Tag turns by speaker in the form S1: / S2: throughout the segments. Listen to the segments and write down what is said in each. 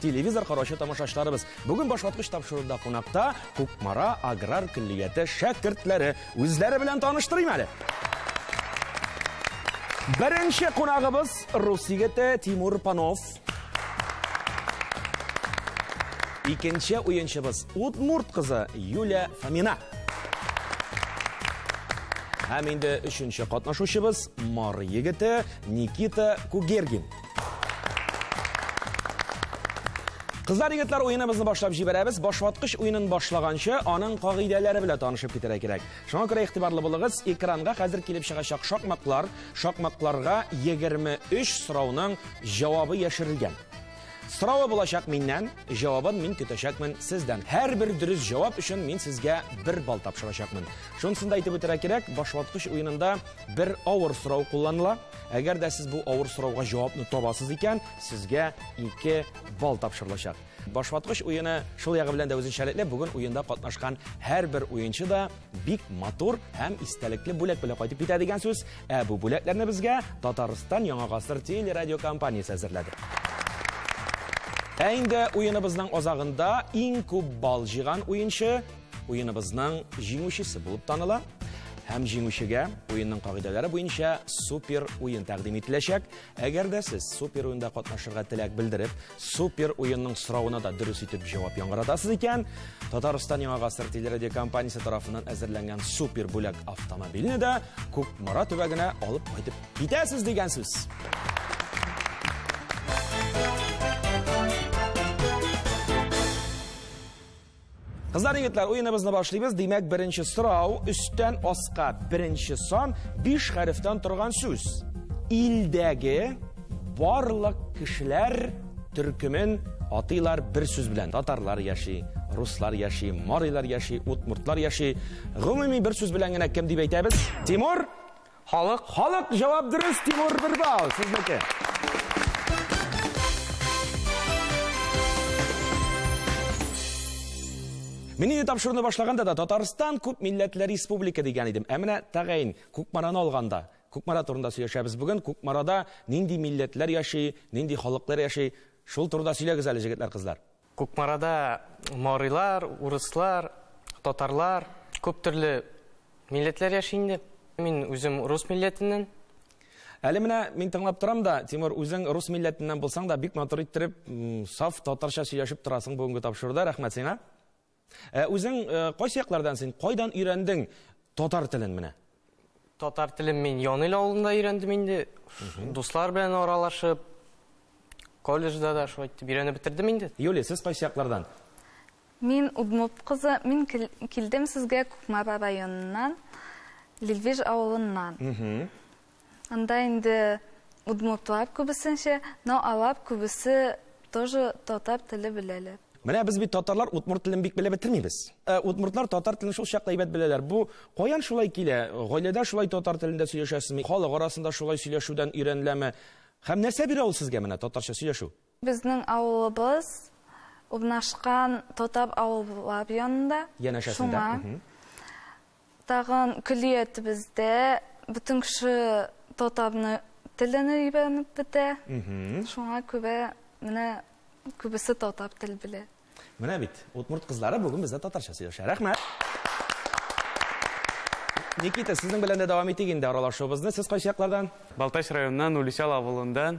S1: Телевизор караучы тамашачыларыбыз, бүген башваткыч тапшыруда кунакта Кукмара аграр көллияте шәкертләре. Үзләре белән таныштырыйм әле. Беренче кунагыбыз рус егете Тимур Панов. Икенче уенчыбыз Удмурт кызы Юля Фомина. Һәм инде өченче катнашучыбыз Мар егете Никита Кугергин. Кызлар, егетләр, уеныбызны башлап җибәрәбез. Башваткыч уенын башлаганчы, аның кагыйдәләре белән танышып китәргә кирәк. Шуңа күрә игътибарлы булыгыз, экранга хәзер килеп чыгачак шакмаклар, шакмакларга 23 сорауның җавабы яшерелгән. Сорауы булачак миннән, җавабын мин көтәчәкмен сездән. Һәрбер дөрес җавап өчен мин сезгә бер бал тапшырачакмын. Шунысын да әйтеп үтәргә кирәк, башваткыч уенында бер авыр сорау кулланыла. Әгәр дә сез бу авыр сорауга җавапны табасыз икән, сезгә 2 балл тапшырылачак. Башваткыч уены шул ягы белән дә үзенчәлекле. Бүген уенда катнашкан һәрбер уенчы да бик матур һәм истәлекле бүләк белән кайтып китә дигән сүз. Ә бу бүләкләрне безгә Татарстан Яңа гасыр телерадиокомпаниясе әзерләде. Ә инде уеныбызның азагында иң күп балл җыйган уенчы Уеныбызның җиңүчесе булып таныла һәм җиңүчегә уенның кагыйдәләре буенча супер уен тәкъдим ителәчәк. Әгәр дә сез супер уенда катнашырга теләк белдереп, супер уенның соравына да дөрес итеп җавап яңгыратасыз икән, Татарстан Яңа гасыр телерадиокомпаниясе тарафыннан әзерләнгән супер бүләк автомобильне дә Кукмара төбәгенә алып кайтып китәсез дигән сүз. Кызлар, егетләр, уеныбызны башлыйбыз. Димәк, беренче сорау, өстән аска беренче сан, биш хәрефтән торган сүз. Илдәге барлык кешеләр төркемен атыйлар бер сүз белән. Татарлар яши, руслар яши, марилар яши, утмуртлар яши. Гомуми бер сүз белән генә кем дип әйтәбез? Тимур, Халык. Халык, җавап дөрес, Тимур бер балл, сезнеке. Мин инде тапшыруны башлаганда да Татарстан күп милләтле республика дигән идем. Ә менә тәгаен Кукмараны алганда, Кукмара турында сөйләшәбез бүген. Кукмарада нинди милләтләр яши, нинди халыклар яши? Шул турыда сөйләгез әле, җегетләр, кызлар. Кукмарада
S2: марилар, урыслар, татарлар, күп төрле милләтләр яши инде. Мин үзем рус милләтеннән. Әле
S1: менә мин тыңлап торам да, Тимур, үзең рус милләтеннән булсаң да, бик матур иттереп, саф татарча сөйләшеп торасың бүгенге тапшыруда. Рәхмәт сиңа. Ә үзең э, кайсы яклардан син? Кайдан өйрәндең татар телен менә? Татар
S2: телен мин Янил авылында өйрәндем инде. Дуслар белән аралашып, колледжда да шулай итеп өйрәнеп бетердем инде. Юлия, сез кайсы яклардан?
S1: Мин
S3: Удмурт кызы, мин килдем сезгә Кукмара районыннан, Лилвеж авылыннан. Анда инде удмуртлар күбесенчә, но алар күбесе тоже татар теле беләләр. Менә без бит татарлар
S1: удмурт телен бик белеп бетермибез. Ә удмуртлар татар телен шул чакта әйбәт беләләр. Бу каян шулай килә? Гаиләдә шулай татар телендә сөйләшәсезме? Халык арасында шулай сөйләшүдән өйрәнеләме? Һәм нәрсә бирә ул сезгә менә татарча сөйләшү? Безнең
S3: авылыбыз урнашкан Тотап авыллар янында. Янәшәсендә. Шуңа тагын көллиятебездә бөтен кеше татарны телен өйрәнеп бетә. Шуңа күрә менә күбесе татар тел белә. Менә бит,
S1: удмурт кызлары бүген бездә татарча сөйләшә. Рәхмәт! Никита, сезнең белән дә дәвам итик инде аралашуыбызны. Сез кайсы яклардан? Балтач районыннан,
S4: Уличал авылыннан.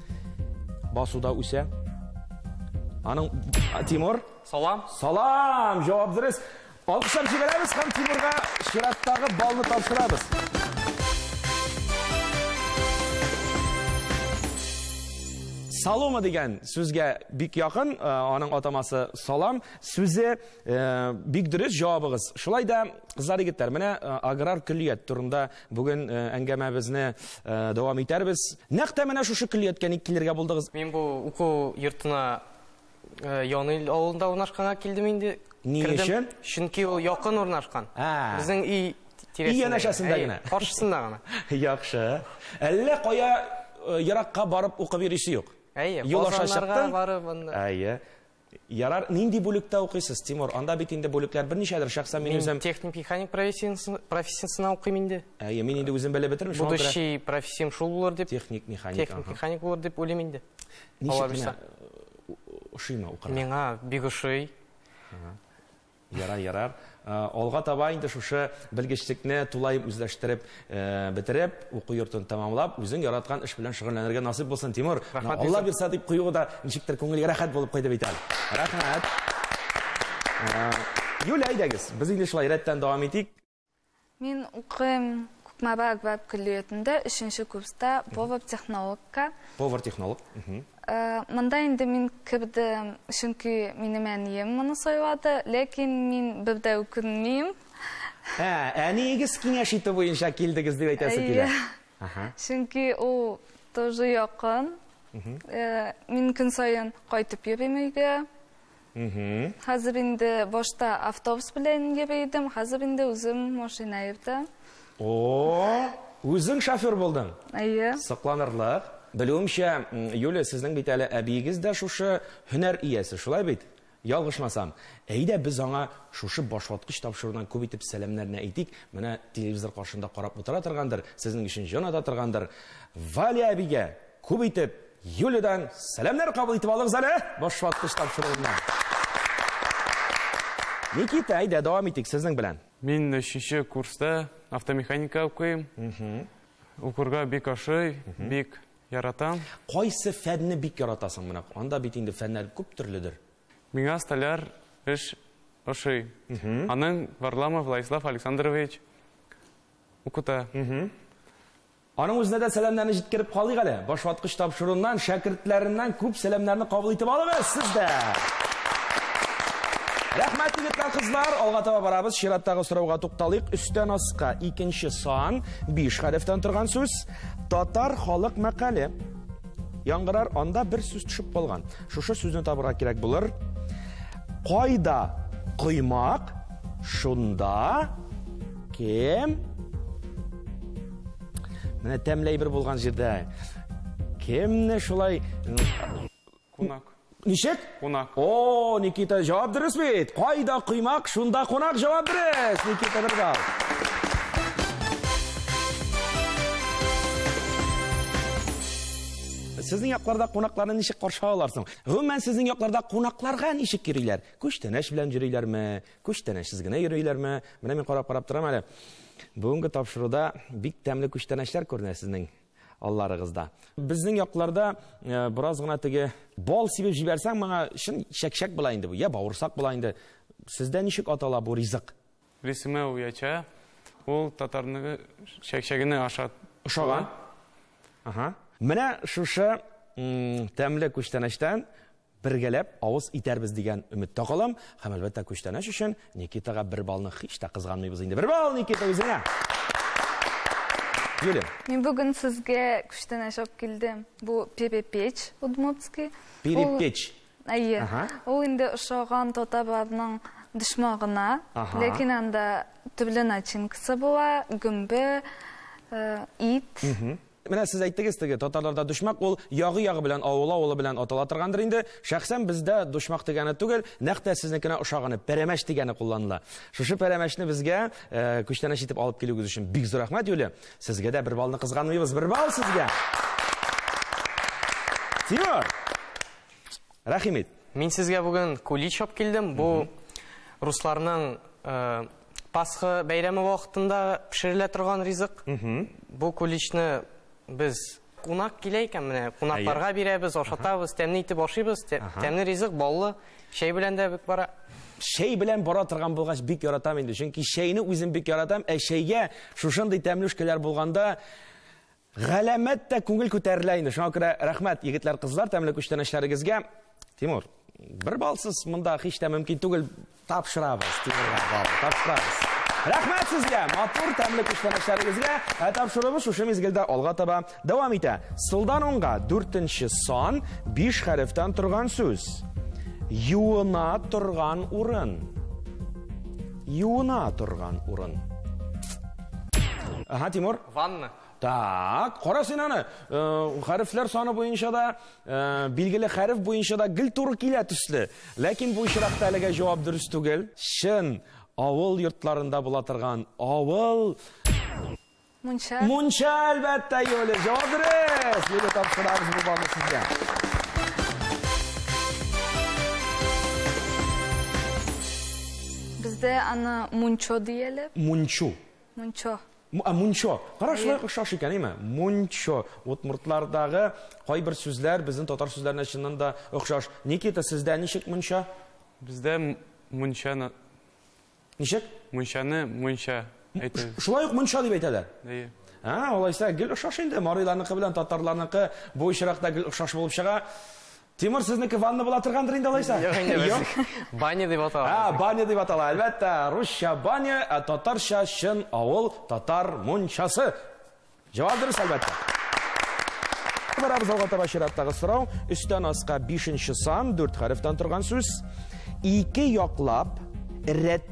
S1: Басуда үсә. Аның Тимур, салам.
S2: Салам,
S1: җавап дөрес. Алкышлар җибәрәбез һәм Тимурга чираттагы балны тапшырабыз. Салома дигән сүзгә бик якын, э, аның атамасы салам сүзе э, бик дөрес җавабыгыз. Шулай да, кызлар егетләр, менә э, аграр көллият турында Бүген э, әңгәмәбезне э, дәвам итәрбез. Нәкъ тә менә шушы көллияткә ник килергә булдыгыз? Мин бу уку
S2: йортына э, Яныйл авылында урнашканга килдем инде. Ни өчен?
S1: Чөнки ул якын
S2: урнашкан. Безнең өй тирәсендә. Өй янәшәсендә
S1: генә. Каршысында гына.
S2: Яхшы.
S1: Әллә кая еракка барып укып йөрисе юк? Әйе, Юл аша чыктың?
S2: барып анда. Әйе.
S1: Ярар, нинди бүлектә укыйсыз, Тимур? Анда бит инде бүлекләр берничәдер, шәхсән мин үзем... техник механик
S2: профессиясенә укыйм инде. Әйе, мин инде үзем белеп
S1: бетермеш. Будущий профессиям
S2: шул булыр дип. Техник механик. Техник
S1: механик булыр
S2: дип уйлыйм инде. Ничек менә
S1: ошыймы укырга? Миңа бик ошый.
S2: Ярар,
S1: ярар. Алга таба инде шушы белгечлекне тулай үзләштереп бетереп, уку йортын тәмамлап, үзең яраткан эш белән шөгыльләнергә насыйп булсын, Тимур. Алла бирса дип куюы да ничектер күңелгә рәхәт булып куйды бит әле. Рәхмәт. Юля, әйдәгез, без инде шулай рәттән дәвам итик. Мин
S3: укыйм Кукмаба Акбаб көллиятендә, өченче курста повар-технологка. Повар-технолог.
S1: Э, монда
S3: инде мин кердем, чөнки минем әнием моны сайлады, ләкин мин бер дә үкенмим. Ә,
S1: әниегез киңәш итү буенча килдегез дип әйтәсе килә. Чөнки
S3: ул тоже якын. Э, мин көн саен кайтып йөрим өйгә. Хәзер инде башта автобус белән йөри идем, хәзер инде үзем машина йөртә. О,
S1: үзең шофер булдың? Әйе. Сокланырлык. Белүемчә, Юлия, сезнең бит әле әбиегез дә шушы һөнәр иясе, шулай бит? Ялгышмасам. Әйдә без аңа шушы башваткыч тапшырудан күп итеп сәламнәрне әйтик. Менә телевизор каршында карап утыра торгандыр, сезнең өчен җан ата торгандыр. Валя әбигә Күп итеп Юлиядән сәламнәр кабул итеп алыгыз әле башваткыч тапшыруыннан. Никита, әйдә, дәвам итик сезнең белән. Мин өченче
S4: курста автомеханика укыйм. Укырга бик ошый, бик яратам. Кайсы фәнне
S1: бик яратасың? Менә анда бит инде фәннәр күп төрледер. Миңа столяр
S4: эш ошый. Аның Варламов Владислав Александрович укыта.
S1: Аның үзенә дә сәламнәрне җиткереп калыйк әле. Башваткыч тапшыруыннан, шәкертләреннән күп сәламнәрне кабул итеп алыгыз сез дә! Рәхмәт, егетләр, кызлар! Алга таба барабыз, чираттагы сорауга тукталыйк. Өстән аска икенче сан, биш хәрефтән торган сүз. Татар халык мәкале. Яңгырар, анда бер сүз төшеп калган. Шушы сүзне табырга кирәк булыр. Кайда коймак, шунда Кем? Менә тәмләй бер булган җирдә. Кемне шулай
S4: Кунак. Ничек?
S1: Кунак. О,
S4: Никита,
S1: җавап дөрес бит. Кайда коймак, шунда кунак җавап дөрес. Никита бер балл. Сезнең якларда кунакларны ничек каршы алалар соң? Гомумән, сезнең якларда кунакларга ничек йөриләр? Күчтәнәч белән йөриләрме? Күчтәнәчсез генә йөриләрме? Менә мин карап-карап торам әле. Бүгенге тапшыруда бик тәмле күчтәнәчләр күренә сезнең алларыгызда. Безнең якларда э, бераз гына теге бал сибеп җибәрсәң, моңа чын чәкчәк була инде бу, я бавырсак була инде. Сездә ничек атала бу ризык? Рисемә
S4: уяча. Ул татарны чәкчәгенә ашат. Ошаган.
S1: Ага. Менә шушы тәмле күчтәнәчтән Бергәләп авыз итәрбез дигән өметтә калам һәм әлбәттә күчтәнәч өчен Никитага бер балны һич тә кызганмыйбыз инде. Бер балл Никита үзеңә! Юлия. Мин бүген сезгә
S3: күчтәнәч алып килдем. Бу перепеч удмуртский. Перепеч.
S1: Әйе.
S3: Ул инде ошаган татарларның дошмагына, ләкин анда төрле начинкасы була, гөмбе, ит. Менә
S1: сез әйттегез теге татарларда дошмак ул ягы-ягы белән авылы-авылы белән атала торгандыр инде. Шәхсән бездә дошмак дигәне түгел, нәкъ тә сезнекенә ошаганы, пәрәмәч дигәне кулланыла. Шушы пәрәмәчне безгә э, күчтәнәч итеп алып килүегез өчен бик зур рәхмәт, Юлия. Сезгә дә бер балны кызганмыйбыз. Бер бал сезгә. Тимур. Рәхим ит. Мин сезгә
S2: бүген кулич алып килдем. Бу русларның э, Пасха бәйрәме вакытында пешерелә торган ризык. Бу куличны без кунак килә икән, менә кунакларга бирәбез, ашатабыз, тәмле итеп ашыйбыз. Тәмле ризык, баллы, чәй белән дә бик бара. Чәй белән бара
S1: торган булгач, бик яратам инде. Чөнки чәйне үзем бик яратам, ә чәйгә шушындый тәмлүшкәләр булганда, Галәмәт тә күңел күтәрелә инде. Шуңа күрә рәхмәт, егетләр, кызлар, тәмле күчтәнәчләрегезгә. Тимур, бер балсыз монда һич тә мөмкин түгел. Тапшырабыз, Тимурга бал, тапшырабыз. Рәхмәт сезгә, матур, тәмле күчтәнәчләрегезгә. Ә тапшыруыбыз шушы мизгелдә алга таба дәвам итә. Сулдан уңга дүртенче сан, биш хәрефтән торган сүз. Юына торган урын. Юына торган урын. Ага, Тимур. Ванна.
S2: Так, кара
S1: син аны. Хәрефләр саны буенча да, билгеле хәреф буенча да гел туры килә төсле. Ләкин бу очракта әлегә җавап дөрес түгел. Чын авыл йортларында була торган авыл
S3: Мунча. Мунча,
S1: әлбәттә, Юлия. Җавап дөрес. Юлия тапшырабыз бу балны сезгә.
S3: Бездә аны мунчо дияләр. Мунчу.
S1: Мунчо.
S3: М- а, Мунчо.
S1: Кара, Әйе. шулай ук охшаш икән, әйме? Мунчо. Удмуртлардагы кайбер сүзләр безнең татар сүзләренә чыннан да охшаш. Никита, сездә ничек мунча? Бездә м-
S4: мунчаны,
S1: Ничек? мунчаны
S4: мунча әйтә. Ш- Шулай ук мунча дип
S1: әйтәләр. Әйе. А,
S4: алайса, гел
S1: охшаш инде. Мариларныкы белән татарларныкы бу очракта гел охшаш булып чыга. Тимур, сезнеке ванна була торгандыр инде алайса? Юк.
S2: Баня дип атала. А, баня дип атала. Әлбәттә,
S1: русча баня, ә татарча чын авыл татар мунчасы. Җавап дөрес, әлбәттә. Барабыз алга таба чираттагы сорау. Өстән аска 5 сан, 4 хәрефтән торган сүз. Ике яклап рәт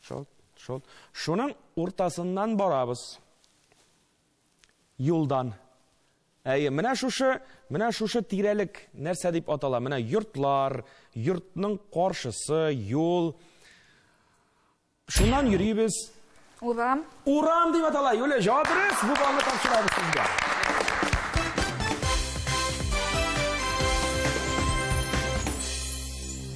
S1: Шолт, шолт. Шуның уртасыннан барабыз. Юлдан. Әйе, менә шушы, менә шушы тирәлек нәрсә дип атала? Менә йортлар, йортның каршысы, юл. Шуннан йөрибез. Урам.
S3: Урам дип
S1: атала. Юлия, җавап бирегез. Бу балны тапшырабыз сезгә.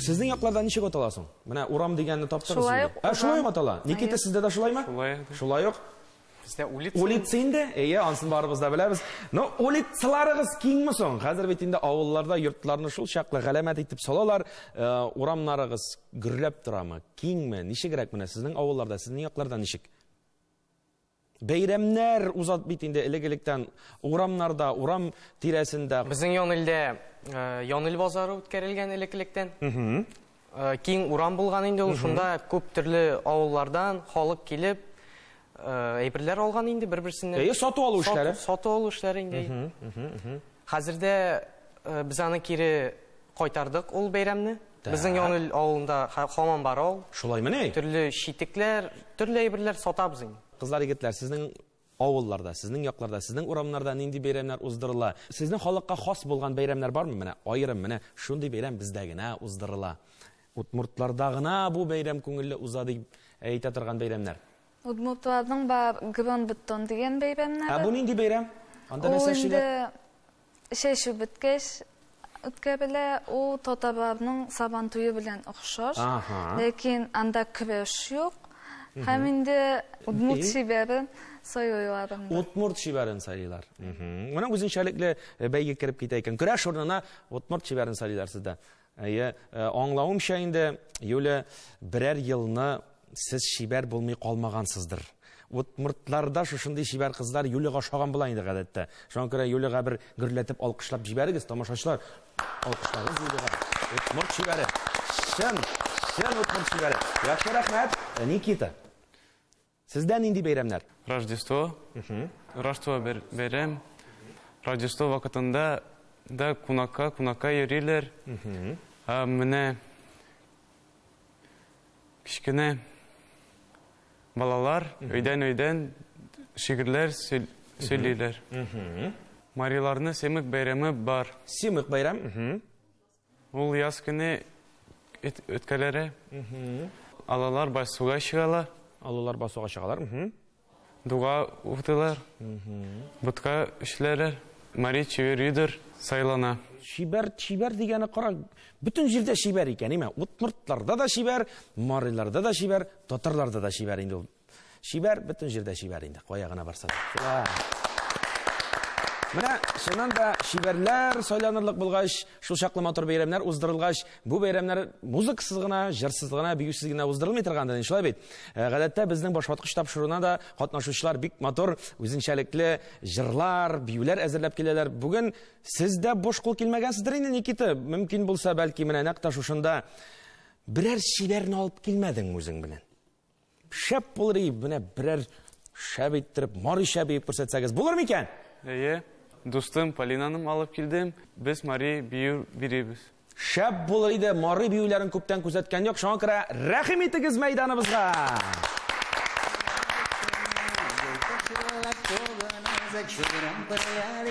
S1: Сезнең якларда ничек атала соң? Менә урам дигәнне таптыгыз инде. Шулай ук. Ә шулай ук атала. Никита сездә дә шулаймы? Шулай. Шулай ук. Бездә улица.
S2: Улица инде. Әйе,
S1: ансын барыбыз да беләбез. Но улицаларыгыз киңме соң? Хәзер бит инде авылларда йортларны шул чаклы галәмәт итеп салалар. Э, урамнарыгыз гөрләп торамы? Киңме? Ничегрәк менә сезнең авылларда, сезнең якларда ничек? Бәйрәмнәр узат бит инде элек-электән урамнарда, урам тирәсендә. Безнең Янилдә
S2: Янил базары үткәрелгән элек-электән. Киң урам булган инде ул, шунда күп төрле авыллардан халык килеп, әйберләр алган инде бер-берсеннән. Әйе, сату-алу эшләре.
S1: Сату-алу эшләре инде.
S2: Хәзер дә без аны кире кайтардык ул бәйрәмне. Безнең Яңел авылында хамам бар ул. Шулаймыни? Төрле
S1: читекләр,
S2: төрле әйберләр сатабыз инде. Кызлар, егетләр, сезнең
S1: авылларда, сезнең якларда, сезнең урамнарда нинди бәйрәмнәр уздырыла? Сезнең халыкка хас булган бәйрәмнәр бармы? Менә аерым, менә шундый бәйрәм бездә генә уздырыла. Удмуртларда гына бу бәйрәм күңелле уза дип әйтә торган бәйрәмнәр. Удмуртларның
S3: бар Гронбеттон дигән бәйрәмнәре. Ә бу нинди
S1: бәйрәм? Анда нәрсә эшлиләр? Чәчү
S3: беткәч үткәрелә, ул татарларның Сабан туе белән охшаш, ләкин анда көрәш юк һәм инде удмурт чибәрен сайлыйлар инде. Удмурт чибәрен
S1: сайлыйлар. Менә үзенчәлекле бәйге кереп китә икән. Көрәш урынына удмурт чибәрен сайлыйлар сездә. Әйе, э, аңлавымча инде, Юля, берәр елны сез чибәр булмый калмагансыздыр. Удмуртларда шушындый чибәр кызлар Юлига ошаган була инде гадәттә. Шуңа күрә Юлига бер гөрләтеп алкышлап җибәрегез, тамашачылар. Алкышларыгыз Юлига. Удмурт чибәре. Чын, чын удмурт чибәре. Яхшы рәхмәт, Никита. Сездә нинди бәйрәмнәр? Рождество.
S4: Рождество бер бәйрәм. Рождество вакытында да кунакка, кунакка йөриләр. Ә менә кечкенә балалар өйдән-өйдән шигырьләр сөйлиләр. Мариларны Семык бәйрәме бар. Семык бәйрәм.
S1: Ул
S4: яз көне эт өткәләре алалар басуга чыгалар. Алалар басуга чыгалар. Дуга укытылар. Ботка эшләре, мари чибәр юдер сайлана. Чибәр,
S1: чибәр дигәне кара, бөтен җирдә чибәр икән, име? Удмуртларда да чибәр, мариларда да чибәр, татарларда да чибәр инде ул. Чибәр, бөтен җирдә чибәр инде, кая гына барса да. Менә шуннан да чибәрләр сайланырлык булгач, шул чаклы матур бәйрәмнәр уздырылгач, бу бәйрәмнәр музыкасыз гына, җырсыз гына, биюсез генә уздырылмый торгандыр, инде шулай бит. Э, гадәттә безнең башваткыч тапшыруына да катнашучылар бик матур, үзенчәлекле җырлар, биюләр әзерләп киләләр. Бүген сез дә буш кул килмәгәнсездер инде, Никита? Мөмкин булса, бәлки менә нәкъ та шушында берәр чибәрне алып килмәдеңме үзең белән? Шәп булыр и, менә берәр шәп иттереп, мари шәп итеп күрсәтсәгез булыр микән? Әйе,
S4: дустым Полинаным алып килдем. Без мари бию бирибез. Шәп булыр
S1: иде, мари биюләрен күптән күзәткән юк. Шуңа күрә рәхим итегез мәйданыбызга. Чудырым берләр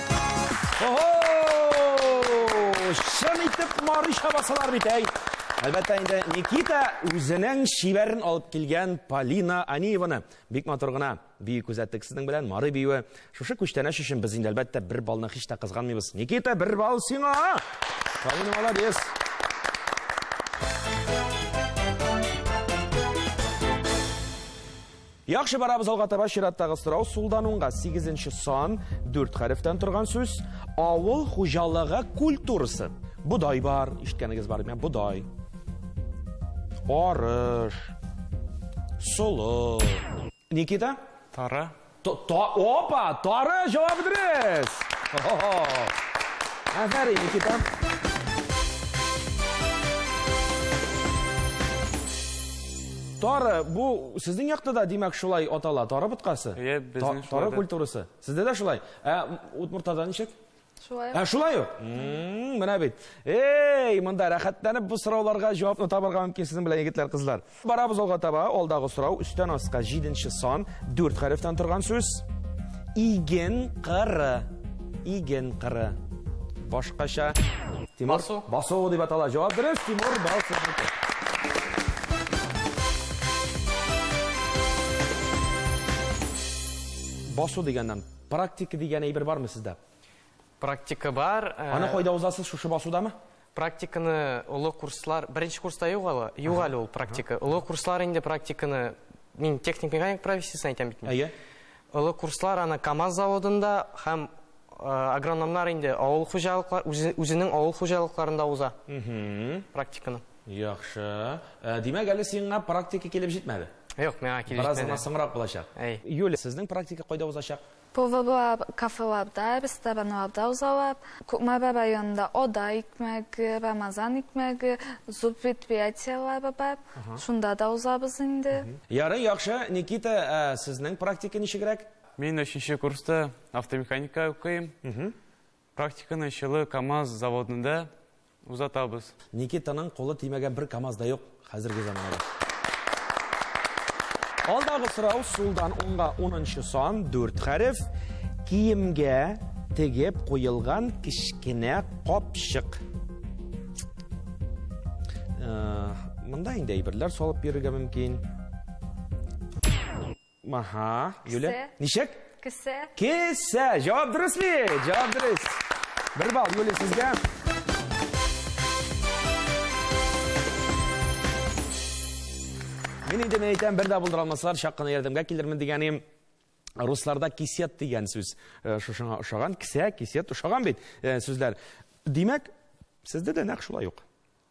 S1: Чын итеп Марый чабасалар бит, әй! Әлбәттә инде Никита үзенең шибәрен алып килгән Полина Аниеваны бик матур гына бию күзәттек сезнең белән. Мары биюе шушы күчтәнәч өчен без инде әлбәттә бер балны һич тә кызганмыйбыз. Никита, бер бал сиңа! Полина молодец! Яхшы барабыз алга таба чираттагы сорау сулдан уңга сигезенче сан дүрт хәрефтән торган сүз авыл хуҗалыгы культурасы бодай бар ишеткәнегез бар мен бодай арыш солы никита тары
S4: опа
S1: тары җавабы дөрес афәрин никита Тары, бу сезнең якта да, димәк, шулай атала, тары боткасы? Иә, безнең шулай. Тары
S4: культурасы.
S1: Сездә дә шулай. Ә Удмуртада ничек? Шулай. Ә шулай
S3: ук?
S1: Менә бит. Эй, монда рәхәтләнеп бу сорауларга җавапны табарга мөмкин сезнең белән егетләр, кызлар. Барабыз алга таба, алдагы сорау, өстән аска 7 сан, 4 хәрефтән торган сүз. Иген кыры. Иген кыры. Башкача Тимур Басу. Басу дип атала. Җавап дөрес, Тимур Басу. басу дигәннән практика дигән әйбер бармы сездә практика
S2: бар э, аны кайда узасыз
S1: шушы басудамы Практиканы
S2: олы курслар, беренче курста юк ала, юк әле ул практика. Олы курслар инде практиканы, мин техник механик профессиясен әйтәм бит. Әйе. Олы
S1: курслар
S2: аны КАМАЗ заводында һәм агрономнар инде авыл хуҗалыклар үзенең авыл хуҗалыкларында уза. Практиканы. Яхшы.
S1: Э, димәк, әле сиңа практика килеп җитмәде. Юк, миңа килеп җитмәде.
S2: Бераз гына соңрак булачак.
S1: Юля, сезнең практика кайда узачак? Поварлап,
S3: кафеларда, ресторанларда узалар. Кукмара районында Ода икмәге, Рамазан икмәге зур предприятиеләре бар. Шунда да узабыз инде. Ярый, яхшы.
S1: Никита, ә сезнең практика ничегрәк? Мин өченче
S4: курста автомеханика укыйм. Практиканы Чылы КАМАЗ заводында узатабыз. Никитаның
S1: кулы тимәгән бер КАМАЗ да юк хәзерге заманада. Алдагы сорау сулдан уңга унынчы сан, дүрт хәреф. Киемгә тегеп куелган кечкенә капчык. Монда инде әйберләр салып йөрергә мөмкин. Аха, Юля. Кесе. Ничек? Кесе.
S3: Кесе.
S1: Җавап дөрес бит. Җавап дөрес. Бер балл Юля сезгә. Мин инде мин әйтәм, бер дә булдыра алмаслар, чак кына ярдәмгә килермен дигәнем. Русларда кисет дигән сүз э, шушыңа ошаган, кисә, кисет ошаган бит э, сүзләр. Димәк, сездә дә нәкъ шулай ук.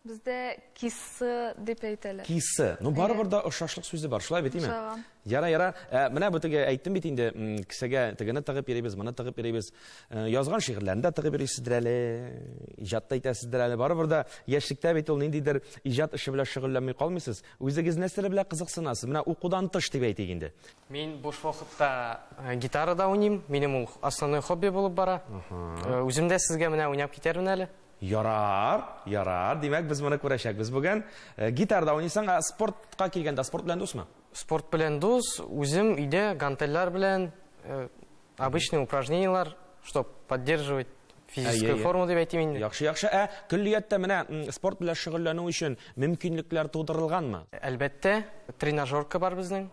S1: Бездә
S3: кисы дип әйтәләр. Кисы. Ну барыбер да
S1: ошашлык сүзе бар, шулай бит, име? Ошаган. Яра, яра. Ә, менә бу теге әйттем бит инде, кесәгә тегене тыгып йөрибез, моны тыгып йөрибез. Э, язган шигырьләрне дә тыгып йөрисездер әле, иҗат та итәсездер әле. Барыбер да яшьлектә бит ул ниндидер иҗат эше белән шөгыльләнми калмыйсыз. Үзегез нәрсәләр белән кызыксынасыз? Менә укудан тыш дип әйтик инде. Мин буш
S2: вакытта э, гитарада уйныйм. Минем ул основной хобби булып бара. Э, үзем дә сезгә менә уйнап китәрмен әле. Ярар,
S1: ярар. Димәк, без моны күрәчәкбез бүген. Э, гитарда уйныйсың, ә спортка килгәндә спорт белән дусмы? Спорт белән дус,
S2: үзем өйдә гантельләр белән э, обычный упражнениялар, чтобы поддерживать физическую форму дип әйтим инде. Яхшы, яхшы. Ә
S1: көллияттә менә спорт белән шөгыльләнү өчен мөмкинлекләр тудырылганмы? Әлбәттә,
S2: тренажерка бар безнең.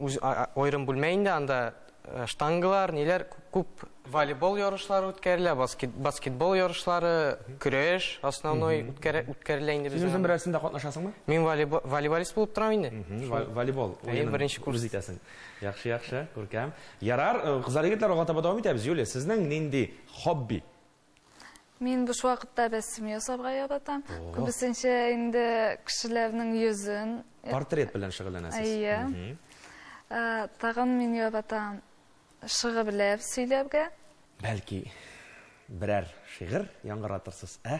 S2: үз аерым бүлмә инде, анда э, штангалар, ниләр күп волейбол ярышлары үткәрелә, баскет, баскетбол ярышлары, көрәш основной үткәрелә инде безнең. Үзең берәрсендә катнашасыңмы?
S1: Мин волейбол, волейболист
S2: булып торам инде. Волейбол. Әйе,
S1: беренче курс. Үз
S2: итәсең. Яхшы,
S1: яхшы, күркәм. Ярар, э, кызлар егетләр алга таба дәвам итәбез. Юлия, сезнең нинди хобби?
S3: Мин буш вакытта рәсем ясарга яратам. Күбесенчә инде кешеләрнең йөзен. Портрет белән
S1: шөгыльләнәсез. Әйе.
S3: Э, тагын мин яратам шигырьләр сөйләргә. Бәлки
S1: берәр шигырь яңгыратырсыз, ә?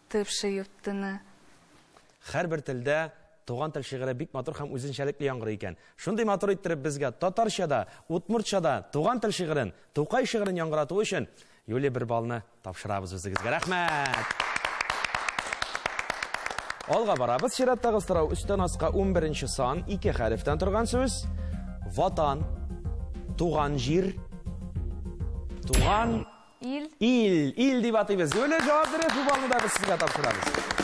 S3: Ты вши юттыны.
S1: Хәрбер телдә Туган тел шигыре бик матур һәм үзенчәлекле яңгырый икән. Шундый матур иттереп безгә татарчада, удмуртчада туган тел шигырен, Тукай шигырен яңгырату өчен Юлия бер балны тапшырабыз үзегезгә. Рәхмәт! Алга барабыз. Чираттагы сорау өстән аска 11 сан, ике хәрефтән торган сүз. Ватан, туган җир, туган Ил. Ил, ил дип атыйбыз. Юлия, җавап дөрес, бу балны да без сезгә тапшырабыз.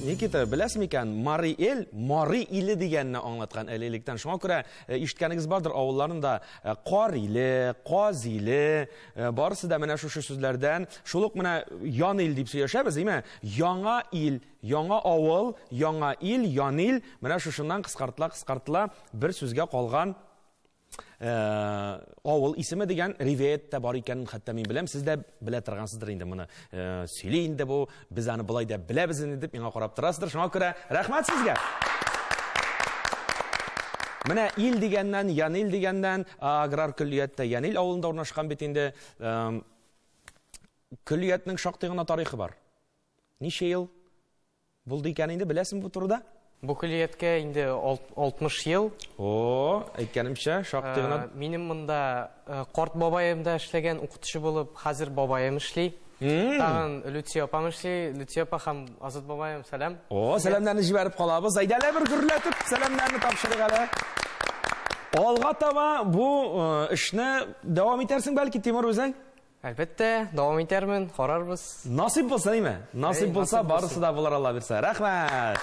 S1: Никита, беләсең микән, Мари эл, Мари иле дигәнне аңлаткан әле электән. Шуңа күрә э, ишеткәнегез бардыр авылларында э, Кар иле, Каз иле, э, барысы да менә шушы сүзләрдән. Шул ук менә Ян ил дип сөйләшәбез, әйме? Яңа ил, Яңа авыл, яңа ил, янил, менә шушыннан кыскартыла-кыскартыла бер сүзгә калган авыл исеме дигән ривәят тә бар икәнен хәтта мин беләм, сез дә белә торгансыздыр инде моны. Сөйли инде бу, без аны болай да беләбез инде дип миңа карап торасыздыр. Шуңа күрә рәхмәт сезгә. Менә ил дигәннән, Янил дигәннән, аграр көллияттә Янил авылында урнашкан бит инде. Көллиятнең шактый гына тарихы бар. Ничә ел булды икән инде, беләсеңме бу турыда? Бу көллияткә
S2: инде 60 ел. О,
S1: әйткәнемчә, шактый гына. Минем монда
S2: карт бабаем да эшләгән укытучы булып, хәзер бабаем эшли. Тагын Люция апам эшли. Люция апа һәм Азат бабаем, сәлам. О, сәламнәрне җибәреп
S1: калабыз. Әйдәле бер гөрләтеп сәламнәрне тапшырыйк әле. Алга таба бу эшне дәвам итәрсең бәлки, Тимур, үзең? Әлбәттә,
S2: дәвам итәрмен, карарбыз. Насыйп булса, әйме?
S1: Насыйп булса, барысы да булыр Алла бирсә. Рәхмәт!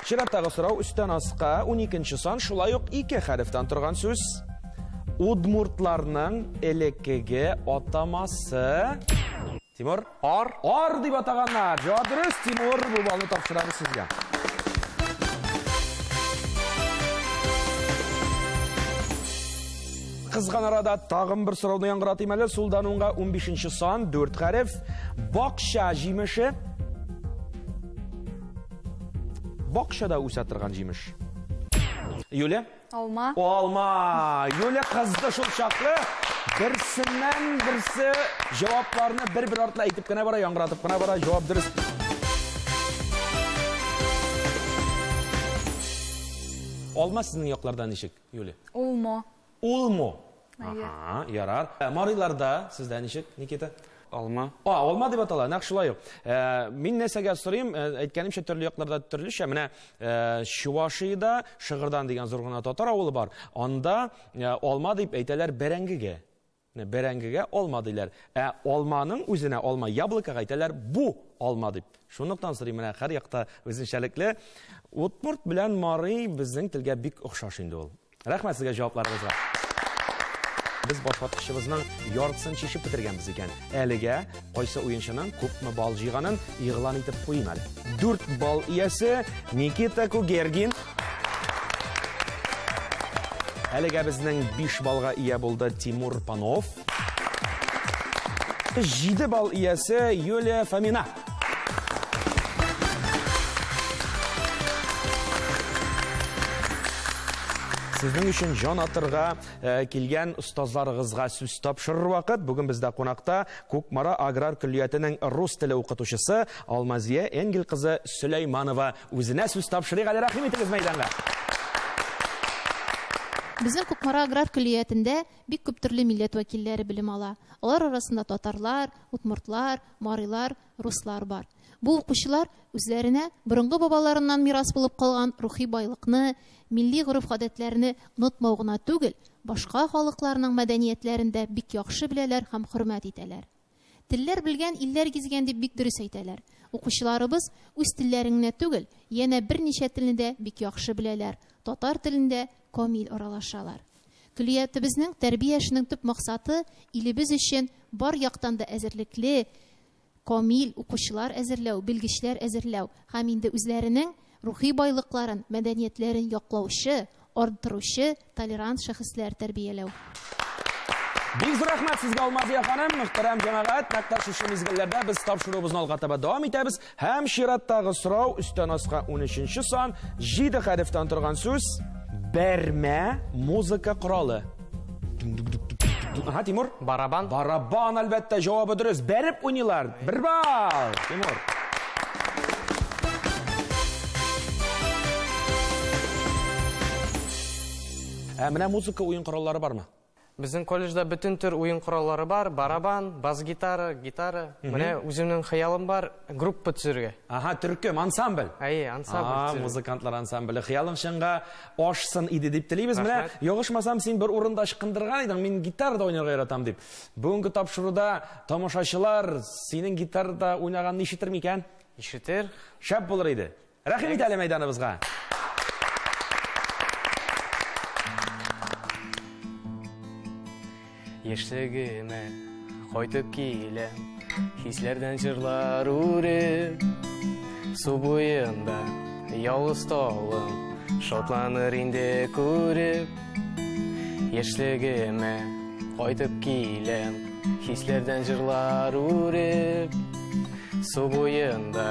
S1: Чираттагы сорау өстән аска 12 сан шулай ук ике хәрефтән торган сүз. Удмуртларның элеккеге атамасы. Тимур, ар. Ар дип атаганнар. Җавап дөрес, Тимур, бу балны тапшырабыз сезгә. кызган арада тагын бер сорауны яңгыратыйм әле сулдан уңга 15 сан 4 хәреф бакча җимеше бакчада үсә торган җимеш юля Алма.
S3: Алма.
S1: Юля кызды шул чаклы. Берсеннән берсе җавапларны бер-бер артлы әйтеп кенә бара, яңгыратып кына бара. Җавап дөрес. Алма сезнең якларда ничек, Юля? Улмо.
S3: Улмо.
S1: Ага, ярар. Ә, Мариларда сездә ничек, Никита? Алма. А,
S4: алма дип атала,
S1: нәкъ шулай ук. Ә, Мин нәрсәгә сорыйм, ә, әйткәнемчә төрле якларда төрлечә. Менә ә, Чувашиядә Шыгырдан дигән зур гына татар авылы бар. Анда ә, алма дип әйтәләр бәрәңгегә. Менә Бәрәңгегә алма диләр. Ә алманың үзенә алма яблокога әйтәләр бу алма дип. Шунлыктан сорыйм, менә һәр якта үзенчәлекле. Удмурт белән Марый безнең телгә бик охшаш инде ул. Рәхмәт сезгә җавапларыгызга. Без башваткычыбызның яртысын чишеп бетергәнбез икән. Әлегә кайсы уенчының күпме балл җыйганын игълан итеп куйыйм әле. Дүрт балл иясе Никита Кугергин. Әлегә безнең биш баллга ия булды Тимур Панов. Җиде балл иясе Юлия Фомина. Сезнең өчен җан атырга э, килгән остазларыгызга сүз тапшырыр вакыт. Бүген бездә кунакта Кукмара аграр көллиятенең рус теле укытучысы Алмазия Энгел кызы Сөләйманова. Үзенә сүз тапшырыйк әле рәхим итегез мәйданга.
S5: Безнең Кукмара аграр көллиятендә бик күп төрле милләт вәкилләре белем ала. Алар арасында татарлар, удмуртлар, марилар, руслар бар. Бу укучылар үзләренә борынгы бабаларыннан мирас булып калган рухи байлыкны, милли гореф-гадәтләрне онытмау гына түгел, башка халыкларның мәдәниятләрен дә бик яхшы беләләр һәм хөрмәт итәләр. Телләр белгән, илләр гизгән дип бик дөрес әйтәләр. Укучыларыбыз үз телләрен генә түгел, янә берничә телне дә бик яхшы беләләр, татар телен дә, камил аралашалар. Көллиятебезнең тәрбия эшенең төп максаты илебез өчен бар яктан да әзерлекле, камил укучылар әзерләү, белгечләр әзерләү һәм инде үзләренең рухи байлыкларын, мәдәниятләрен яклаучы, арттыручы толерант шәхесләр тәрбияләү.
S1: Бик зур рәхмәт сезгә, Алмазия ханым! Мөхтәрәм җәмәгать, нәкъ тә шушы мизгелләрдә без тапшыруыбызны алга таба дәвам итәбез. Һәм чираттагы сорау, өстән аска унөченче сан, җиде хәрефтән торган сүз, бәрмә музыка коралы. Ага, Тимур? Барабан. Барабан,
S2: әлбәттә,
S1: җавабы дөрес. Бәреп уйныйлар. Бер балл, Тимур. Ә менә музыка уен кораллары бармы? Безнең колледжда
S2: бөтен төр уен кораллары бар, барабан, бас-гитара, гитара. Менә үземнең хыялым бар, группа төзергә. Ага, төркем,
S1: ансамбль. Әйе, ансамбль А, төзергә.
S2: музыкантлар ансамбле.
S1: Хыялың чынга ашсын иде дип телибез. Менә, Рәхмәт. ягышмасам, син бер урында ычкындырган идең, мин гитарада уйнарга яратам дип. Бүгенге тапшыруда тамашачылар синең гитарада уйнаганны ишетер микән? Ишетер.
S2: Шәп булыр иде.
S1: Рәхим ит әле мәйданыбызга.
S2: Яшьлегемә кайтып килә, хисләрдән җырлар үреп, су буенда ялгыз талым, шатланыр инде күреп. Яшьлегемә кайтып килә, хисләрдән җырлар үреп, су буенда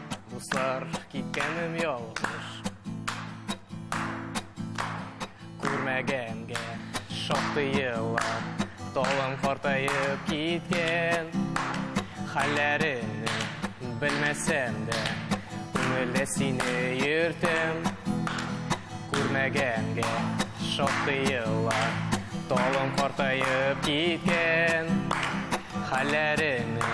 S2: Дуслар, киткәнем ялгыш. Күрмәгәнгә шактый еллар, талым картаеп киткән. Хәлләреңне белмәсәм дә, күңелдә сине йөртәм. Күрмәгәнгә шактый еллар, талым картаеп киткән. Хәлләреңне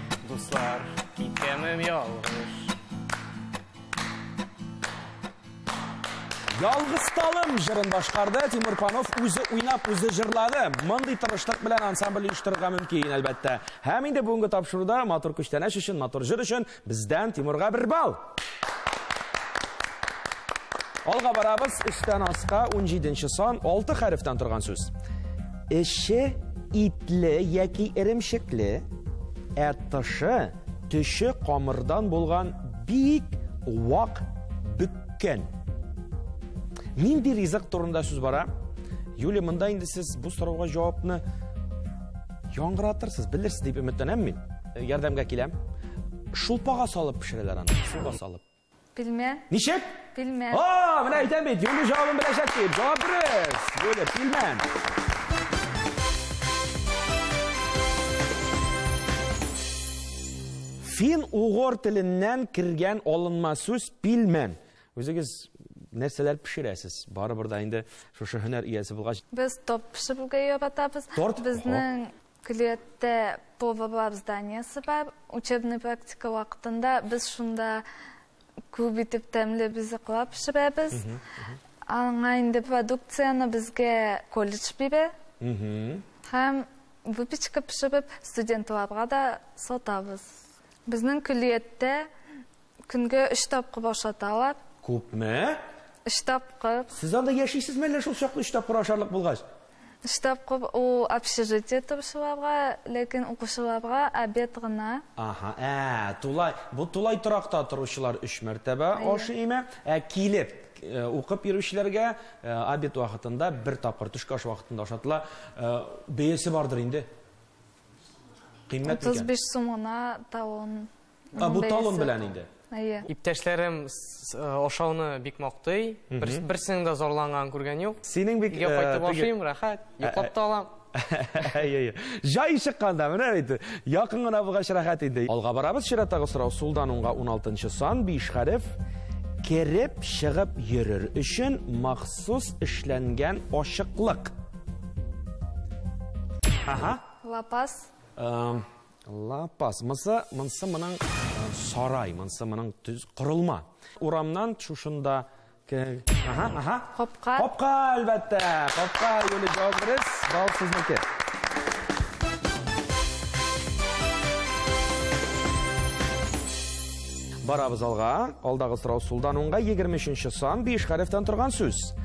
S2: Дуслар, киткәнем ялгыш.
S1: Ялгыз талым җырын башкарды, Тимур Панов үзе уйнап, үзе җырлады. Мондый тырышлык белән ансамбль оештырырга мөмкин, әлбәттә. Һәм инде бүгенге тапшыруда матур күчтәнәч өчен, матур җыр өчен бездән Тимурга бер балл! Алга барабыз, эштән аска 17 сан, 6 хәрефтән торган сүз. Эше итле яки иремшекле, ә тышы төше камырдан булган бик вак бөккән. Нинди ризык турында сүз бара? Юлия, монда инде сез бу сорауга җавапны яңгыратырсыз, белерсез дип өметләнәм мин. Ярдәмгә киләм. Шулпага салып пешерәләр аны. Суга салып. Пилмә.
S3: Ничек?
S1: Пилмә. О,
S3: менә әйтәм бит,
S1: юнды җавабын беләчәк дип. Җавап дөрес. Юлия, пилмә. Фин-угор теленнән кергән алынма сүз пилмән. Үзегез нәрсәләр пешерәсез? Барыбер да инде шушы һөнәр иясе булгач. Без топ пешерергә
S3: яратабыз. Торт? Безнең Көллияттә поварлар зданиесе бар. Учебный практика вакытында без шунда күп итеп тәмле ризыклар пешерәбез. Аңа инде продукцияне безгә колледж бирә. Һәм выпечка пешереп, студентларга да сатабыз. Безнең көллияттә Көнгә өч тапкыр ашаталар. Күпме?
S1: Өч
S3: тапкыр. Сез анда яшисезме
S1: әллә шул чаклы өч тапкыр ашарлык булгач? Өч тапкыр
S3: ул общежитие торучыларга, ләкин укучыларга обед гына. Аһа, ә,
S1: тулай, бу тулай торакта торучылар өч мәртәбә ашый име? Ә килеп э, укып йөрүчеләргә э, обед вакытында бер тапкыр төшке аш вакытында ашатыла. Э, бәясе бардыр инде. Кыйммәт микән? 35 сум гына
S3: тавын. А, бу талон
S1: белән инде. Әйе. Иптәшләрем
S2: ашауны э, бик мактый. Берсенең дә зарланган күргән юк. Синең бик Өйгә э, кайтып
S1: ашыйм, рәхәт,
S2: йоклап та алам. Әйе.
S1: Җай чыкканда менә бит. Якын гына булгач рәхәт инде. Алга барабыз, чираттагы сорау сулдан уңга 16 сан, 5 хәреф. Кереп, чыгып йөрер өчен махсус эшләнгән ашыклык.
S3: Ага. Лапас. Эм
S1: Лапас. Мысы, мынсы моның сарай, мынсы моның төз корылма. Урамнан шушында Ага, ага. Капка.
S3: Капка, әлбәттә.
S1: Капка, Юлия Җавабрис, бал сезнеке. Барабыз алга. Алдагы сорау сулдан уңга 23 сан 5 хәрефтән торган сүз.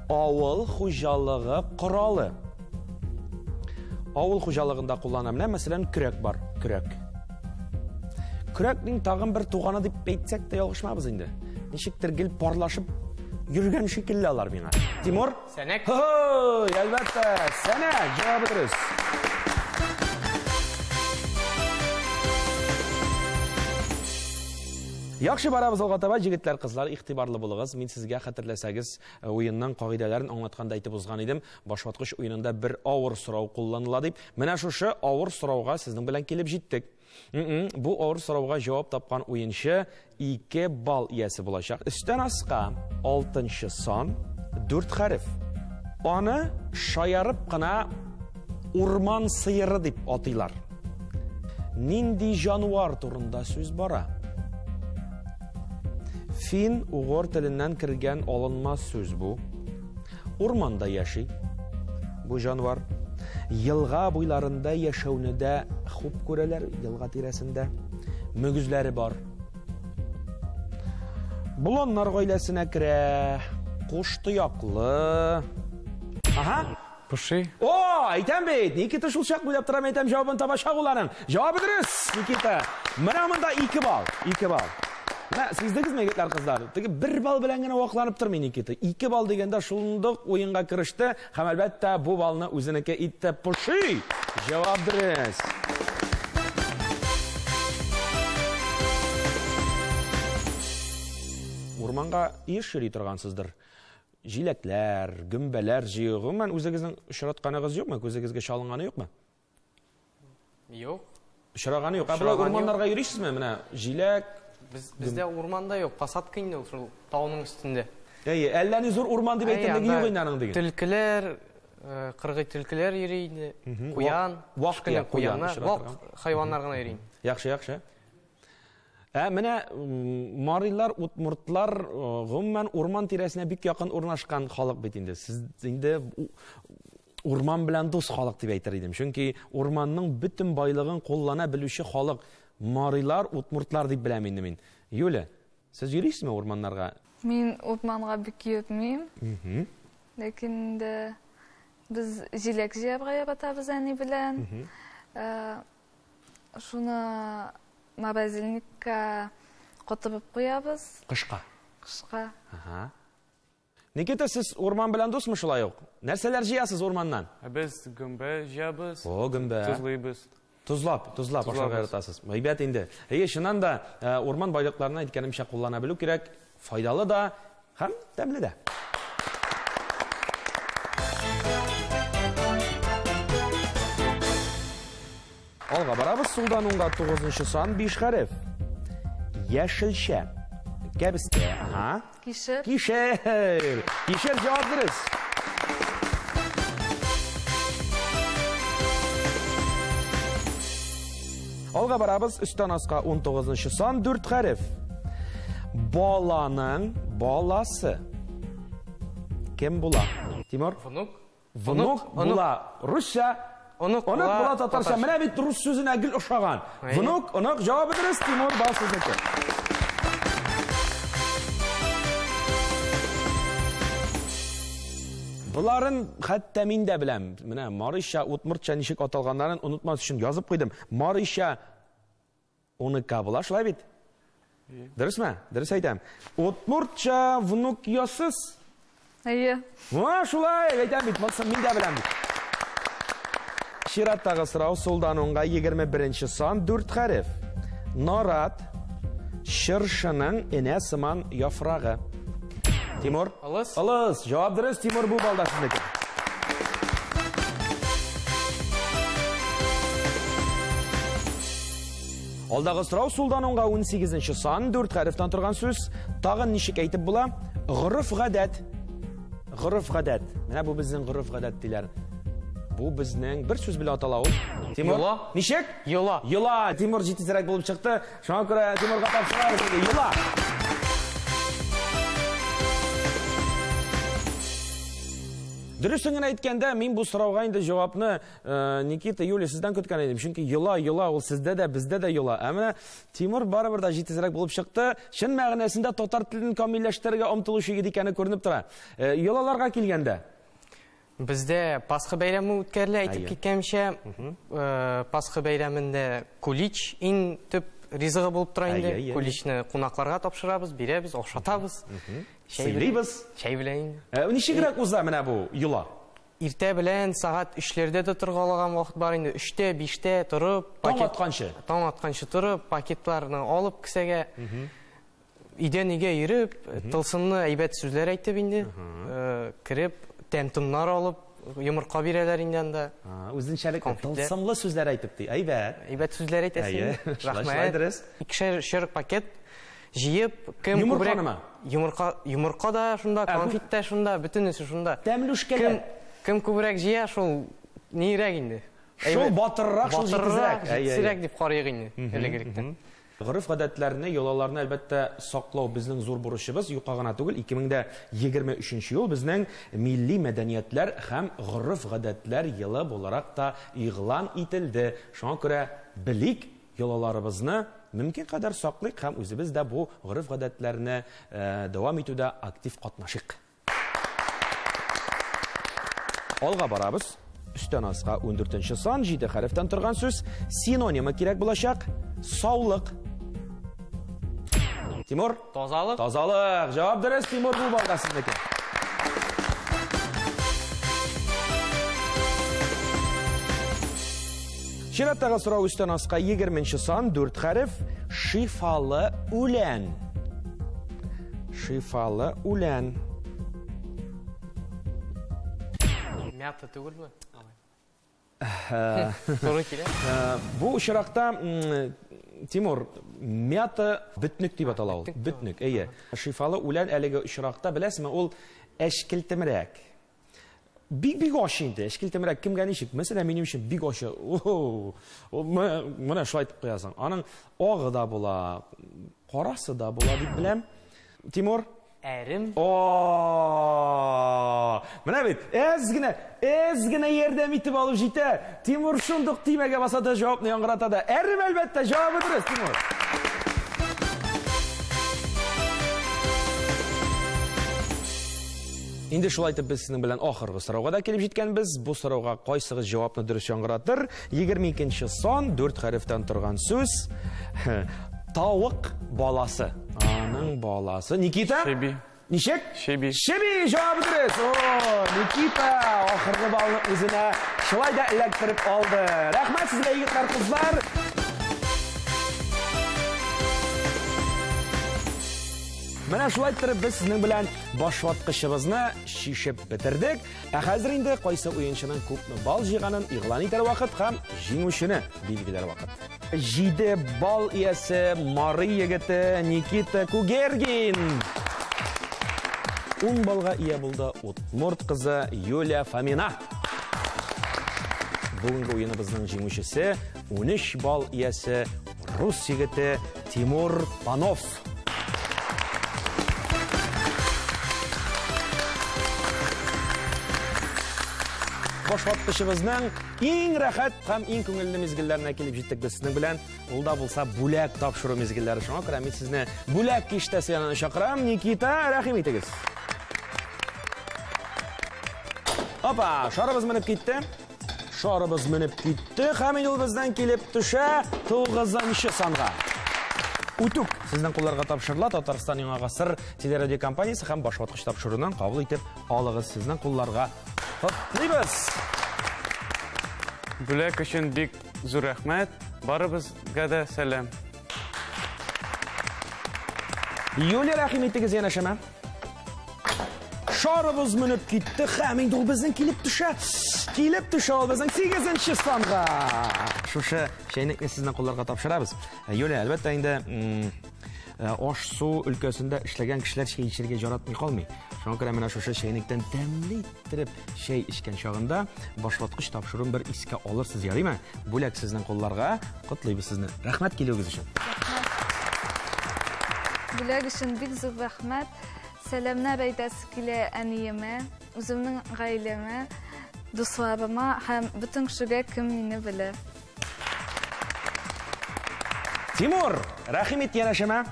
S1: Авыл хуҗалыгы коралы. Авыл хуҗалыгында куллана. Менә мәсәлән, көрәк бар, көрәк. Көрәкнең тагын бер туганы дип әйтсәк тә ялгышмабыз инде. Ничектер гел парлашып йөргән шикелле алар миңа. Тимур? Сәнәк. Һо,
S2: әлбәттә,
S1: сәнәк. Җавабы дөрес. Яхшы барабыз алга таба, җегетләр, кызлар, игътибарлы булыгыз. Мин сезгә хәтерләсәгез, э, уенның кагыйдәләрен аңлатканда әйтеп узган идем. Башваткыч уенында бер авыр сорау кулланыла дип, менә шушы авыр сорауга сезнең белән килеп җиттек. М-м, бу авыр сорауга җавап тапкан уенчы 2 балл иясе булачак. Өстән аска 6 сан, 4 хәреф. Аны шаярып кына урман сыеры дип атыйлар. Нинди җануар турында сүз бара? Фин угор теленнән кергән алынма сүз бу. Урманда яши бу җанвар. Елга буйларында яшәүне дә хуп күрәләр, елга тирәсендә. Мөгезләре бар. Боланнар гаиләсенә керә. Куш тояклы. Ага. Поши.
S4: О, әйтәм
S1: бит, Никита шулчак буйлап торам, әйтәм, җавабын табачак ул аның. Җавабы дөрес, Никита. Менә монда ике бал, ике бал. Менә сиздегезме, егетләр, кызлар? Теге бер бал белән генә вакланып тормый Никита. Ике бал дигәндә шундук уенга кереште һәм әлбәттә бу балны үзенеке итте поши. Җавап дөрес. Урманга еш йөри торгансыздыр. Җиләкләр, гөмбәләр җыюы, гомумән, үзегезнең очратканыгыз юкмы, күзегезгә чалынганы юкмы?
S2: Юк. Очраганы
S1: юк. Ә болай урманнарга йөрисезме? Менә җиләк. Без бездә
S2: урманда юк, посадка инде ул шул тауның өстендә. Әйе, әллә ни
S1: зур урман дип әйтерлек юк инде аның диген. Төлкеләр, э,
S2: кыргый төлкеләр йөри инде. Куян, вак кенә
S1: куяннар, вак
S2: хайваннар гына йөри. Яхшы, яхшы.
S1: Ә менә марилар, утмуртлар э, гомумән урман тирәсенә бик якын урнашкан халык бит инде. Сез инде урман белән дус халык дип әйтер идем. Чөнки урманның бөтен байлыгын куллана белүче халык марилар, утмуртлар дип беләм инде мин. Юля, сез йөрисезме урманнарга? Мин урманга
S3: бик йөрмим. Ләкин инде без җиләк җыярга яратабыз әни белән. Э, шуны морозильникка котырып куябыз. Кышка.
S1: Кышка.
S3: Ага.
S1: Никита, сез урман белән дусмы шулай ук? Нәрсәләр җыясыз урманнан? Ә без гөмбә
S4: җыябыз. О, гөмбә. Тозлыйбыз. Тозлап, тозлап
S1: ашарга яратасыз. Әйбәт инде. Әйе, чыннан да э, урман байлыкларына әйткәнемчә куллана белү кирәк. Файдалы да һәм тәмле дә. Алга барабыз, сулдан уңга тугызынчы сан, биш хәреф. Яшелчә. Кәбестә. Ага. Кишер.
S3: Кишер.
S1: Кишер җавап дөрес. Алга барабыз, өстән аска 19-нчы сан, 4 хәреф. Баланың баласы. Кем була? Тимур? Внук.
S2: Внук була
S1: русча, онык
S2: була татарча.
S1: Менә бит рус сүзенә гел ошаган. Внук, онык җавабы дөрес, Тимур бал сезнеке. Боларын хәтта мин дә беләм. Менә Марыша, Утмыртча ничек аталганнарын онытмас өчен язып куйдым. Марыша Оныкка була, шулай бит? Дөресме? Дөрес әйтәм. Удмуртча внук ясыз. Әйе.
S3: Ва, шулай,
S1: әйтәм бит, монсын мин дә беләм бит. Чираттагы сорау сулдан уңга 21-нче сан 4 хәреф. Нарат чыршының энә сыман яфрагы. Тимур? Алыс. Алыс.
S2: Җавап дөрес,
S1: Тимур бу балда сезнеке. Алдагы сорау сулдан онга 18 нче сан, 4 хәрефтән торган сүз. Тагын ничек әйтеп була? Гырыф гадәт. Гырыф гадәт. Менә бу безнең гырыф гадәт диләр. Бу безнең бер сүз белән атала ул. Тимур. Йола. Ничек? Йола. Йола.
S2: Тимур
S1: җитезрәк булып чыкты. Шуңа күрә Тимурга тапшырабыз инде. Йола. Дөресен генә әйткәндә, мин бу сорауга инде җавапны Э, Никита, Юлия, сездән көткән идем. Чөнки йола, йола, ул сездә дә, бездә дә йола. Ә менә Тимур барыбер дә җитезрәк булып чыкты. Чын мәгънәсендә татар телен камилләштерергә омтылучы егет икәне күренеп тора. Э, йолаларга килгәндә, Бездә
S2: Пасха бәйрәме үткәрелә, әйтеп Әйе. киткәнчә, э, Пасха бәйрәмендә кулич иң төп ризыгы булып тора инде. Әйе, әйе. Куличны кунакларга тапшырабыз, бирәбез, ашатабыз. Чәй белән- Сыйлыйбыз.
S1: Чәй белән инде. Э,
S2: Ничегрәк уза
S1: менә бу йола? Иртә белән
S2: сагат өчләрдә дә торга алаган вакыт бар инде. Өчтә, биштә торып, Таң пакет- атканчы? Таң атканчы торып, пакетларны алып кесәгә, өйдән-өйгә йөреп, тылсымны әйбәт сүзләр әйтеп инде, э, кереп, тәм-томнар алып, йомырка бирәләр инде анда. А, Үзенчәлекле, Конфетлар.
S1: тылсымлы сүзләр
S2: әйтеп ди.
S1: Әйбәт. Әйбәт сүзләр әйтәсең. Әйе,
S2: шулай, шулай
S1: Рәхмәт. дөрес. Икешәр-өчәр пакет
S2: Җыеп, кем Йомырка күбрәк... нема? Йомырка, йомырка
S1: да шунда,
S2: Ә, бу- конфет тә шунда, бөтенесе шунда. Тәмле үшкәләр. Кем,
S1: кем күбрәк
S2: җыя, шул нирәк инде. Шул Әйбәт- батырырак,
S1: шул батырырак, җитезрәк. Әй, әй, җитезрәк дип карыйк
S2: инде, элегректән. Гореф-гадәтләрне,
S1: йолаларны әлбәттә саклау безнең зур бурычыбыз, юкка гына түгел. 2023 ел безнең милли мәдәниятләр һәм гореф-гадәтләр елы буларак та игълан ителде. Шуңа күрә белик, Йолаларыбызны мөмкин кадәр саклыйк һәм үзебез дә бу гореф-гадәтләрне дәвам итүдә актив катнашыйк. Алга барабыз. Өстән аска ундүртенче сан, җиде хәрефтән торган сүз. Синонимы кирәк булачак? Саулык. Тимур. Тазалык. Тазалык.
S2: Җавап
S1: дөрес, Тимур, бу балда сезнеке. Чираттагы сорау өстән аска 20 сан, 4 хәреф, шифалы үлән. Шифалы үлән.
S2: Мята түгелме? Туры килә. Бу очракта
S1: Тимур, мята бөтнек дип атала ул. Бөтнек, әйе. Шифалы үлән әлеге очракта, беләсезме, ул әчкелтемрәк. Бик-бик аш инде, әчкелтемрәк кемгә ничек? Мәсәлән, минем өчен бик аш. Менә шулай итеп куясың. Аның агы да була, карасы да була дип беләм. Тимур, Әрем.
S2: О-о-о-о-о!
S1: Менә бит, әз генә, әз генә ярдәм итеп алу җитә. Тимур шундук тимәгә баса да җавапны яңгырата да. Әрем әлбәттә, җавабы дөрес, Тимур. Инде шулай итеп без сезнең белән ахыргы сорауга да килеп җиткәнбез. Бу сорауга кайсыгыз җавапны дөрес яңгыратыр? Егерме икенче сан, дүрт хәрефтән торган сүз. Тавык баласы. Аның баласы. Никита? Шеби. Ничек?
S4: Шеби.
S1: Шеби,
S4: җавап
S1: дөрес. О, Никита, ахыргы балны үзенә шулай да эләктереп алды. Рәхмәт сезгә, егетләр, кызлар. Менә шулай иттереп без сезнең белән башваткычыбызны шишеп бетердек. Ә хәзер инде кайсы уенчының күпме бал җыйганын игълан итәр вакыт һәм җиңүчене билгеләр вакыт. Җиде бал иясе Мары егете Никита Кугергин. Ун балга ия булды Утмурт кызы Юлия Фомина. Бүгенге уеныбызның җиңүчесе 13 бал иясе Рус егете Тимур Панов. башлаткычыбызның иң рәхәт һәм иң күңелле мизгелләренә килеп җиттек без сезнең белән. Ул да булса бүләк тапшыру мизгелләре. Шуңа күрә мин сезне бүләк киштәсе янына чакырам. Никита, рәхим итегез. Опа, шарыбыз менеп китте. Шарыбыз менеп китте, һәм инде ул бездән килеп төшә тугызынчы санга. Үтүк сезнең кулларга тапшырыла Татарстан яңа гасыр телерадиокомпаниясе һәм башваткыч тапшыруынан кабул итеп алыгыз сезнең кулларга. Котлыйбыз!
S4: Бүләк өчен бик зур рәхмәт. Барыбызга да сәлам.
S1: Юлия, рәхим итегез янәшәмә. Шарыбыз менеп китте, һәм инде ул безнең килеп төшә. Килеп төшә ул безнең 8нче санга. Шушы чәйнекне сезнең кулларга тапшырабыз. Э, Юлия, әлбәттә инде э, аш су өлкәсендә эшләгән кешеләр чәй эчәргә яратмый калмый. Шуңа күрә менә шушы чәйнектән тәмле иттереп Чәй эчкән чагында башлаткыч тапшыруын бер искә алырсыз, ярыймы? Бүләк сезнең кулларга. Котлыйбыз сезне. Рәхмәт килүегез өчен.
S3: Бүләк өчен бик зур рәхмәт. Сәламнәр әйтәсе килә әниемә, үземнең гаиләмә, дусларыма һәм бөтен кешегә, кем мине белә.
S1: Тимур, рәхим ит янәшәмә.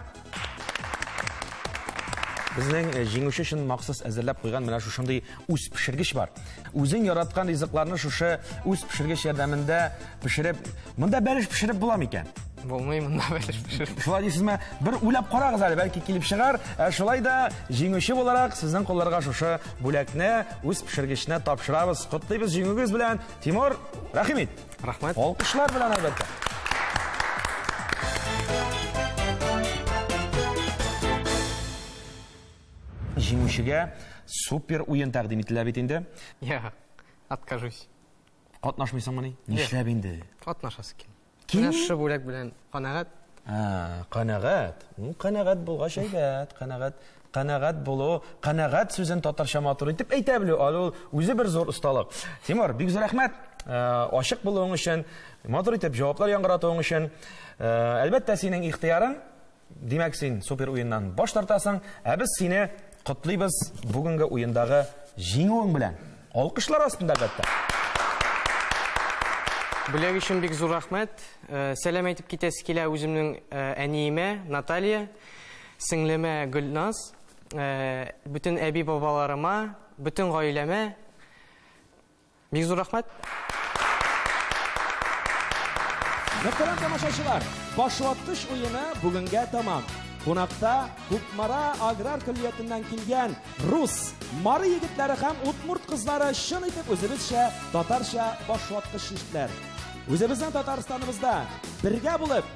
S1: Безнең э, җиңүче өчен махсус әзерләп куйган менә шушындый үз пешергеч бар. Үзең яраткан ризыкларны шушы үз пешергеч ярдәмендә пешереп, монда бәлеш пешереп була микән? Булмый монда
S2: бәлеш пешереп. Шулай дисезме? Бер
S1: уйлап карагыз әле, бәлки килеп чыгар. Ә шулай да җиңүче буларак сезнең кулларга шушы бүләкне үз пешергечне тапшырабыз. Котлыйбыз җиңүгез белән. Тимур, рәхим ит. Рәхмәт. Алкышлар
S2: белән әлбәттә.
S1: Җиңүчегә супер уен тәкъдим ителә бит инде. Я,
S2: откажусь.
S1: Катнашмыйсыңмы ни? Нишләп инде? Катнашасы килми.
S2: Килми? Менә шушы бүләк
S1: белән
S2: канәгать.
S1: Канәгать. Ну, канәгать булгач әйбәт, канәгать. Канәгать булу, канәгать сүзен татарча матур итеп әйтә белү, аны ул үзе бер зур осталык. Тимур, бик зур рәхмәт. Э, ашык булуың өчен, матур итеп җаваплар яңгыратуың өчен. Э, әлбәттә, синең ихтыярың, димәк, син супер уеннан баш тартасың, ә без сине котлыйбыз бүгенге уендагы җиңүең белән. Алкышлар астында, әлбәттә.
S2: Бүләк өчен бик зур рәхмәт. Э, сәлам әйтеп китәсе килә үземнең әниемә, Наталья. Сеңлемә Гөлназ, бөтен әби-бабаларыма, бөтен гаиләмә бик зур рәхмәт!
S1: Мөхтәрәм тамашачылар, башваткыч уены бүгенгә тәмам. Кунакта Кукмара аграр көллиятеннән килгән рус, мары егетләре һәм удмурт кызлары чын итеп үзебезчә татарча башваткыч чиштеләр. Үзебезнең Татарстаныбызда бергә булып,